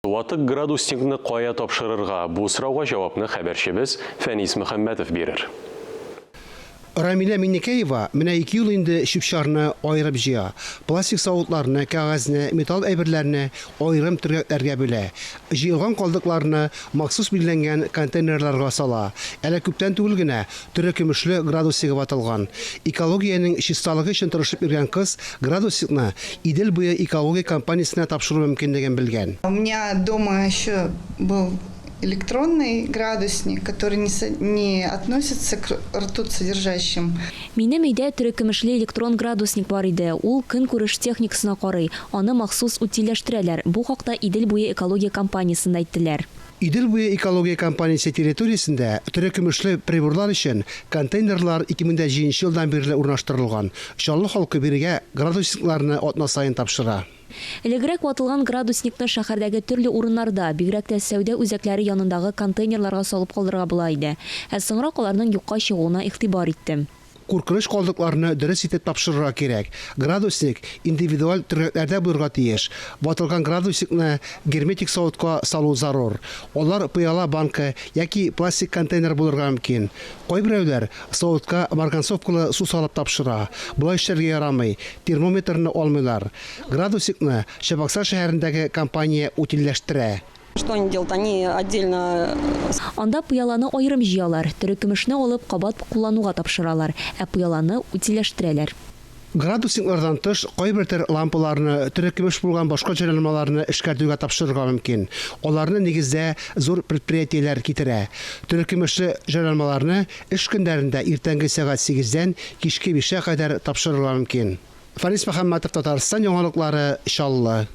Ватык градусникны кая тапшырырга, бу сорауга җавапны хәбәрчебез Фәнис Мөхәммәтов бирер. Рамилә Миннекәева менә ике ел инде чүп-чарны аерып җыя, пластик савытларны, кәгазьне, металл әйберләрне аерым төргәкләргә бүлә, җыелган калдыкларны махсус билгеләнгән контейнерларга сала, әле күптән түгел генә Төре көмешле градусигы ватылган. Экологиянең чисталыгы өчен тырышып йөргән кыз градусикны Идел буе экологик компаниясенә тапшыру мөмкинлеген белгән. У меня дома еще был электронный градусник, который не со не относится к ртут содержащим. Минем өйдә төре көмешле электрон градусник бар иде, ул көнкүреш техникасына карый, аны махсус утильләштерәләр, бу хакта Идел буе экология компаниясендә әйттеләр. Идел буе экология компаниясе территориясендә терекөмешле приборлар өчен контейнерлар 2007 нче елдан бирле урнаштырылган. Чаллы халкы бирегә градусникларны атна саен тапшыра. Элегрәк ватылган градусникны шәһәрдәге төрле урыннарда, бигрәк тә сәүдә үзәкләре янындагы контейнерларга салып калдырырга була иде. Ә соңрак аларның юкка чыгуына игътибар иттем. Куркыныч калдыкларны дөрес итеп тапшырырга кирәк. Градусник индивидуаль төргәкләрдә булырга тиеш. Ватылган градусникны герметик савытка салу зарур. Алар пыяла банка яки пластик контейнер булырга мөмкин. Кайберәүләр савытка марганцовкалы су салып тапшыра. Болай эшләргә ярамый, термометрны алмыйлар. Градусникны Чабаксар шәһәрендәге компания утильләштерә. Анда пыяланы аерым җыялар, терекөмешне алып кабат куллануга тапшыралар, ә пыяланы утильләштерәләр. Градусниклардан тыш, кайбер төр лампаларны, терекөмеш булган башка җайланмаларны эшкәртүгә тапшырырга мөмкин. Аларны, нигездә, зур предприятиеләр китерә. Терекөмешле җайланмаларны эш көннәрендә иртәнге сәгать сигездән кичке бишкә кадәр тапшырырга мөмкин. Фарис Мөхәммәтов, Татарстан яңалыклары, Чаллы.